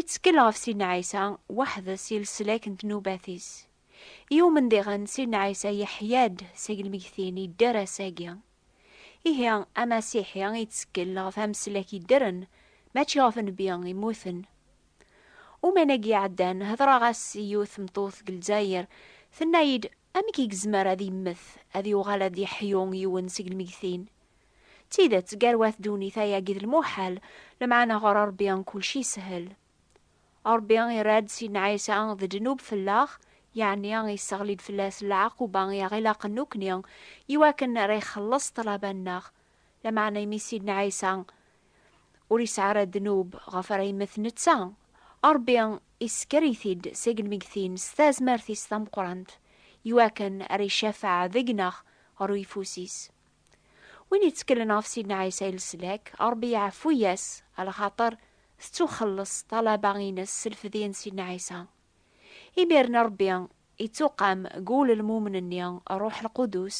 Ittkel ɣef Sidna Ɛisa weḥd-s i leslak n tnubat-is. I umendiɣen, Sidna Ɛisa yeḥya-d seg lmegtin yedder ass-agi. Ihi, Amasiḥi ittkel ɣef ameslak yeddren, mačči ɣef nnbi immuten. Uman-agi iɛeddan, hedreɣ-as i yiwet tmeṭṭut deg Lezzayer, tenna-yi-d, Amek i yezmer ad yemmet, ad yuɣal ad yeḥyu yiwen seg lmegtin? D tidet, gar wat ddunit ayagi d lmuḥal, lemɛana ɣer Rebbi kulci yeshel. Rebbi irra-d Sidna Ɛisa d ddnub fell-aɣ, yeɛni yesseɣli-d fell-as lɛaquba i aɣ-ilaqen nukni, iwakken ara ixelleṣ ṭṭlaba-nneɣ. Lameɛna imi Sidna Ɛisa ur yesɛi ara ddnub ɣef ara yemmet netta, Rebbi isekker-it-id seg lmeggtin s tazmert-is tameqqrant, iwakken ara icafeɛ deg-neɣ ɣer uyeffus-is. Win yettkelen ɣef Sidna Ɛisa i leslak, Ṛebbi iɛeffu-yas, alaxaṭer tettuxelleṣ ṭṭalaba-ines s lfedya n Sidna Ɛisa. Imiren Ṛebbi ittuqam deg wul n lmumen-nni Ṛṛuḥ Lqudus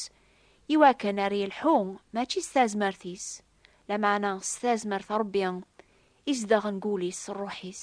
i wakken ar yelḥu mačči s tazmert-is, lameɛna s tazmert n Ṛebbi izedɣen deg wul-is Ṛṛuḥ-is.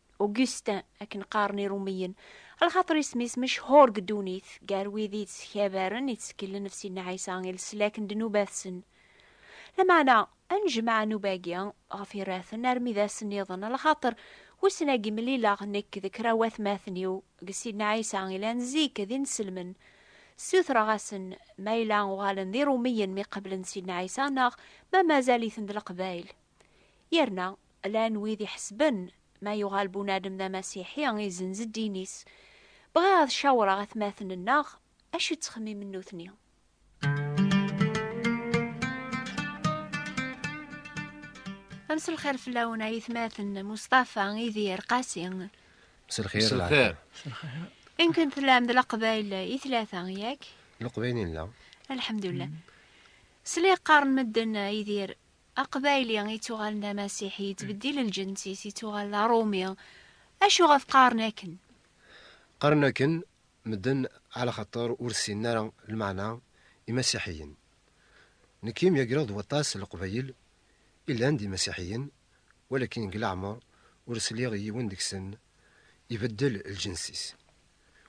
Augustin, akken qqaren Irumiyen, lxaṭer isem-is mechuṛ deg ddunit, gar wid i yettkabaren, itteklen ɣef Sidna Ɛisa i leslak n ddnubat-nsen. Lameɛna, ad nejmeɛ nnuba-agi ɣef yirraten armi d ass nniḍen, lxaṭer wissen agi mlileɣ nekk d kra n watmaten-iw deg Sidna Ɛisa yellan zik d inselmen, ssutreɣ-asen ma yella uɣalen d Irumiyen mi qablen Sidna Ɛisa neɣ ma mazal-iten d Leqbayel. Yerna. Llan wid iḥesben ma yuɣal bunadem d amasiḥi, izenz ddin-is. Bɣiɣ ad cawreɣ atmaten-nneɣ acu ttxemmimen nutni. Amselxir fell-awen ay atmaten, Mustafa, Idir, Qasi. Mselxir. Mselxir. Imken tellam d leqbayl i tlata, yak? Leqbayl i nella. Alḥemdullah. Sliɣ qqaren medden, Idir, Aqbayli ittuɣalen d amasiḥi, yettbeddil lǧens-is, ittuɣal d aṛumi. Acuɣef qqaren akken? Qqaren akken medden ɛla xaṭer ur ssinen ara lmeɛna imasiḥiyen. Nekk i myagreɣ d waṭas n Leqbayel i llan d imasiḥiyen, walakin deg leɛmer ur sliɣ i yiwen deg-sen ibeddel lǧens-is.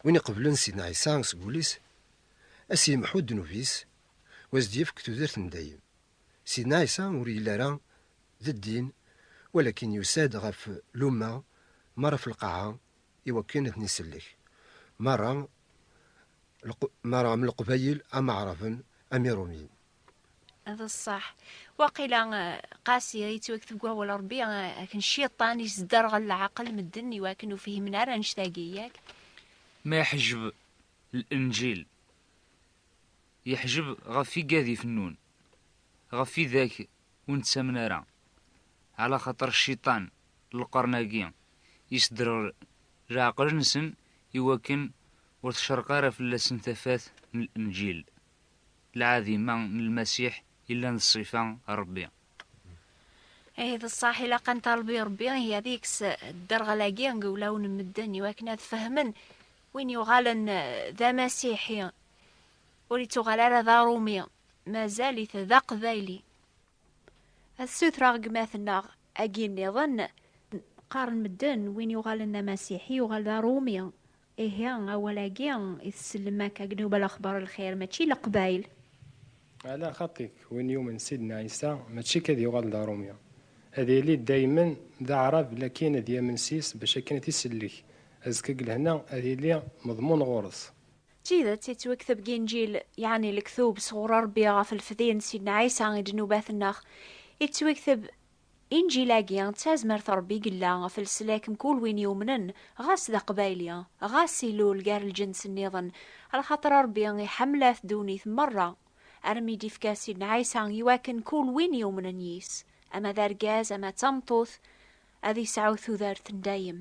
Win iqeblen Sidna Ɛisa seg wul-is, a s-yemḥu ddnub-is, u a s-d-yefk tudert n dayem. Sidna Ɛisa ur yelli ara d ddin, walakin yusa-d ɣef lumma merra ɣef lqaɛa i wakken ad ten-isellek merra, merra am leqbayel, am aɛraben, am irumyen. D ṣṣeḥ, waqila qasi i yettwakteb deg wawal n Rebbi akken Cciṭan yesderɣel leɛqel medden i wakken ur fihimen ara annect-agi, yak? Ma iḥejjeb Lenǧil. Yeḥjeb ɣef igad ifennun, ɣef idak ur nettamen ara, ɛla xaṭer cciṭan n lqern-agi yesdreɣ leɛqel-nsen i wakken ur tecreq ara fell-asen tafat n Lenǧil, lɛadima n Lmasiḥ yellan d ṣṣifa n Rebbi. Ihi d ṣṣeḥ, ilaq ad neṭṭaleb i Rebbi ihi ad yekkes dderɣel-agi deg wulawen n medden i wakken ad fehmen Win yuɣalen d amasiḥi ur ittuɣal ara d aṛumi, mazal-it d aqbayli. Ad ssutreɣ gma-tneɣ agi nniḍen. Qqaren medden win yuɣalen d amasiḥi yuɣal d aṛumi. Ihi awal-agi i tsellem akka deg Nubal Axbar Lxir mačči leqbayl. Ɛla xaṭi-k, win yumen Sidna Ɛisa mačči k ad yuɣal d Arumi, ad yili daymen d Aɛrab lakin ad yamen s-is bac akken ad t-isellek, azekka deg lehna ad yili meḍmun ɣur-s. D tidet, yettwekteb deg Inǧil, yeɛni lektub sɣur Rebbi ɣef lefdi n Sidna Ɛisa i ddnubat-nneɣ, yettwekteb Inǧil-agi d tazmert n Ṛebbi i yella ɣef leslak n kul win yumnen, ɣas d Aqbayli, ɣas ilul gar lǧens nniḍen, lxaṭer Ṛebbi iḥemmel-at ddunit meṛṛa, armi d-ifka Sidna Ɛisa i wakken kul win yumnen yis, ama d argaz ama d tameṭṭut, ad yesɛu tudert n dayem.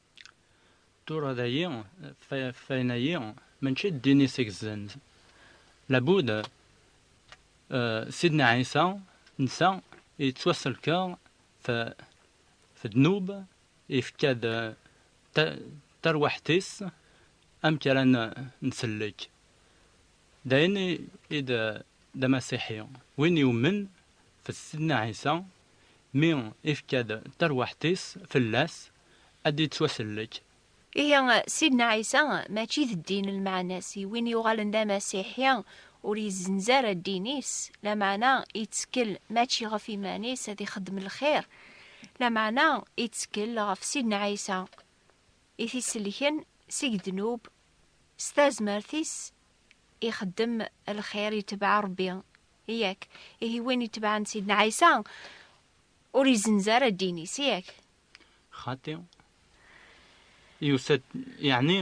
Tura dayi, ffayen-ayi mačči d ddin i s-igezzan. Labud, Sidna Ɛisa netta yettwasselka f ddnub, yefka-d tarwiḥt-is amek ara nsellek. D ayen i d amasiḥi, win yummen f Sidna Ɛisa, mi ifka-d tarwiḥt-is fell-as, ad d-yettwasellek. Ihi, Sidna Ɛisa mačči d ddin lmeɛna-s, i win yuɣalen d amasiḥi ur yezzenz ara ddin-is, lameɛna ittkel mačči ɣef iman-is ad ixeddem lxir, lameɛna ittkel ɣef Sidna Ɛisa i t-isellken seg ddnub, s tazmert-is ixeddem lxir, itebɛ Rebbi. Yak? Ihi win itebɛen Sidna Ɛisa ur yezzenz ara ddin-is. Yak? Xati, yusa-d, yeɛni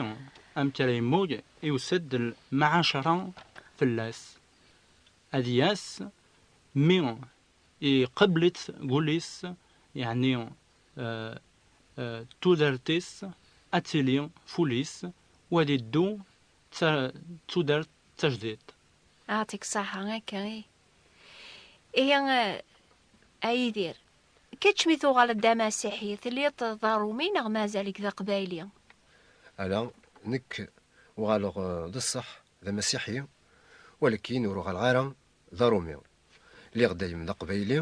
amek ara yemmug, yusa-d lmɛacra fell-as, ad yas, mi iqebbel-itt deg wul-is, yeɛni tudert-is ad tili f wul-is, u ad iddu d tudert tajdidt. Xati, Ṣaḥa akka i. Ihi a Yidir, Kečč mi tuɣaleḍ d amasiḥi, telliḍ d aṛumi neɣ mazal-ik d aqbayli? Ala, nekk uɣaleɣ d ṣṣeḥ d amasiḥi, walakin ur uɣaleɣ ara d aṛumi. Lliɣ dayem d aqbayli,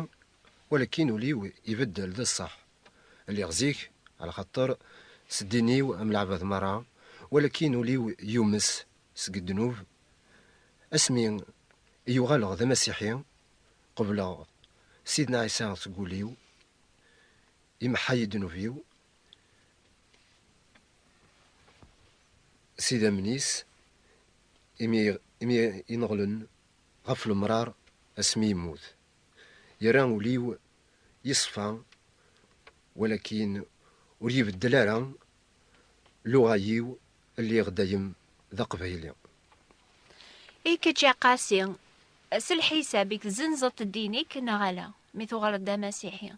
walakin ul-iw ibeddel d ṣṣeḥ. Lliɣ zik ɛla xaṭer s ddin-iw am leɛbad meṛṛa, walakin ul-iw yumes seg ddnub. Asmi i uɣaleɣ d amasiḥi, Qebleɣ Sidna Ɛisa seg wul-iw, imeḥḥa-yi ddnub-iw, s idammen-is, imi imi ineɣlen ɣef lemrar asmi yemmut, yerra ul-iw yeṣfa, walakin ur ibeddel ara Luɣa-yiw lliɣ dayem d aqbayli. I kečč a Qasi, s lḥisab ik tzenzeḍ-t ddin-ik neɣ ala, mi tuɣaleḍ d amasiḥi?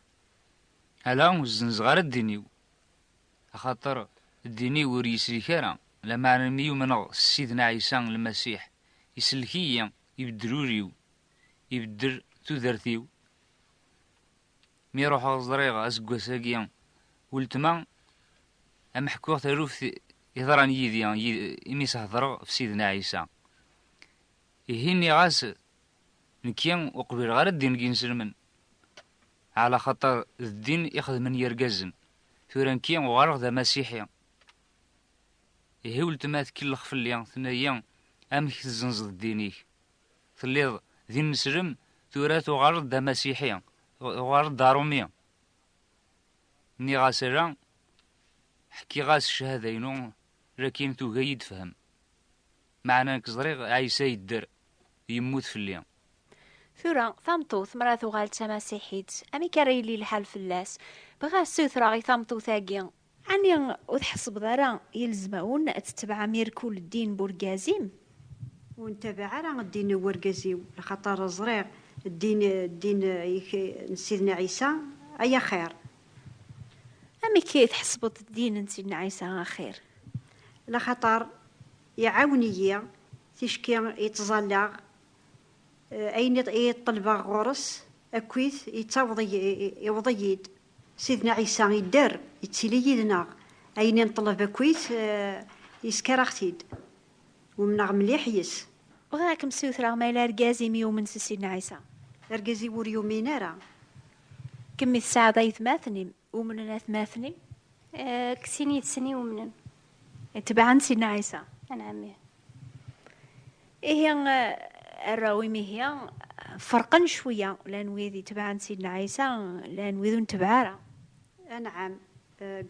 Ala, ur zzenzeɣ ara ddin-iw, axaṭer ddin-iw ur yislik ara, lameɛna mi umneɣ s Sidna Ɛisa Lmasiḥ, isellek-iyi, ibeddel ul-iw, ibeddel tudert-iw, Mi ruḥeɣ ẓriɣ aseggas-agi weltma am ḥkuɣ taluft yeḍran yid-i imi s-hedreɣ f Sidna Ɛisa. Ihi nniɣ-as nekki ur qbileɣ ara ddin n yinselmen ɛlaxaṭer d ddin i xedmen yirgazen, tura nekki uɣaleɣ d amasiḥi. Ihi weltma tkellex fell-i tenna-yi amek tezzenzeḍ ddin-ik? Telliḍ d imeslem, tura tuɣaleḍ d amasiḥi, tuɣaleḍ d arumi. Nniɣ-as ala, ḥkiɣ-as ccahada-inu, lakin tuga-yi d-fhem. Meɛna nekk ẓriɣ Ɛisa yedder, yemmut fell-i. Tura, tameṭṭut mara tuɣal d tamasiḥit, amek ara yili lḥal fell-as? Bɣiɣ ad ssiwtreɣ i tameṭṭut-agi, Ɛni ur tḥessbeḍ ara yelzem-awen ad tetebɛem irkul ddin n urgaz-im? Ur ntabaɛ ara ddin n urgaz-iw, laxaṭer ẓriɣ ddin, ddin ik, n Sidna Ɛisa ay axir. Amek ay tḥessbeḍ ddin n Sidna Ɛisa axir? Laxaṭer iɛawen-iyi, ticki i ttẓallaɣ, ayen i ṭṭelbeɣ ɣur-s akkit yettaweḍ, yewweḍ-iyi-d. Sidna Ɛisa idder, ittili yid-neɣ. Ayen i nṭleb akk-it, yesker-aɣ-t-id. Umneɣ mliḥ yes. Bɣiɣ a kem-ssutreɣ ma yella argaz i m-yumen s Sidna Ɛisa. Argaz-iw ur yumin ara. Kemm i tesɛiḍ aytmaten-im, umnen atmaten-im? Deg sin yid-sen i umnen. Tebɛen Sidna Ɛisa. Anɛam ih. Ihi arraw imihi ferqen cwiya, llan wid itebɛen Sidna Ɛisa, llan wid ur ntebɛ ara. Anɛam, deg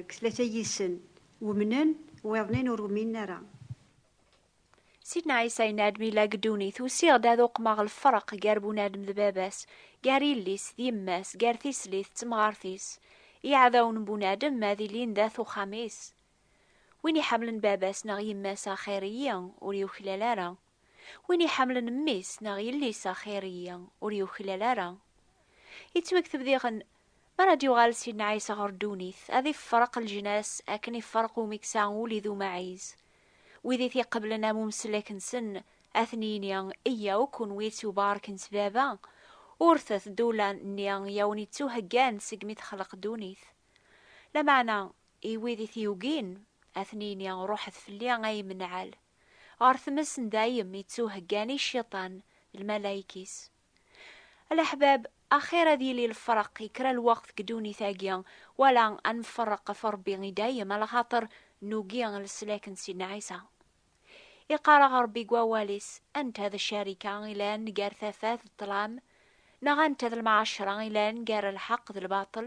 tlata yid-sen umnen, wiḍen-in ur uminen ara. Sidna Ɛisa yenna-d mi yella deg ddunit, Usiɣ-d ad uqmeɣ lferq gar bunadem d baba-s, gar yelli-s d yemma-s, gar tislit d temɣart-is. Iɛdawen n bunadem ad ilin dat uxxam-is, Win iḥemmlen baba-s neɣ yemma-s axir-iyi, ur yuklal ara. Win iḥemmlen mmi-s neɣ yelli-s axir-iyi, ur yuklal ara. Yettwakteb diɣen, Mi ara d-yuɣal Sidna Ɛisa ɣer ddunit, ad iffereq leǧnas akken iffereq umi yesɛa ul-i d umaɛiz. Wid i t-iqeblen am umeslak-nsen, ad ten-yini, Yyaw, kunwi ittubarken s Baba, urtet-d ula-nni i awen-ittuheggan segmi texleq ddunit. Lameɛna, I wid i t-yugin, ad ten-yini, Ruḥet fell-i ay imenɛal, ɣer tmes n dayem yettuheggan i Cciṭan d lmalayek-is. A leḥbab, axir ad yili lefreq i kra lweqt deg ddunit-agi, wala ad nferreq ɣef Ṛebbi i dayem, lxaṭer nugi leslak n Sidna Ɛisa. Iqqar-aɣ Ṛebbi deg Wawal-is, Anta d ccarika i yellan gar tafat d ṭṭlam? Neɣ anta d lmɛacra i yellan gar lḥeqq d lbaṭel?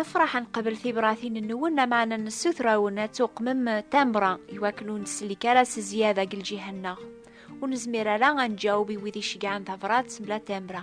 nefraḥ ad nqabel tibratin-nwen amaɛna nessutrawen ad tuqmem tamra iwakken ur nsellek ara s zzyada deg lǧiha-nneɣ. Ur nezmir ara ad nǧaweb i wid icegɛen tabrat mebla tamra.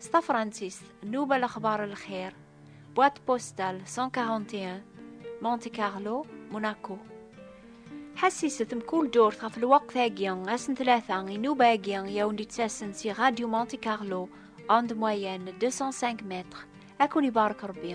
S tafransist, Nuba Lexbar Lxir, boîte postale 141, Monte Carlo, Monaco. Ḥessiset mkul ddurt ɣef lweqt-agi, ass n tlata, inuba-agi i awen-d-ittasen si Radio Monte Carlo, onde moyenne 205 mètres. Ad kun-ibarek Rebbi.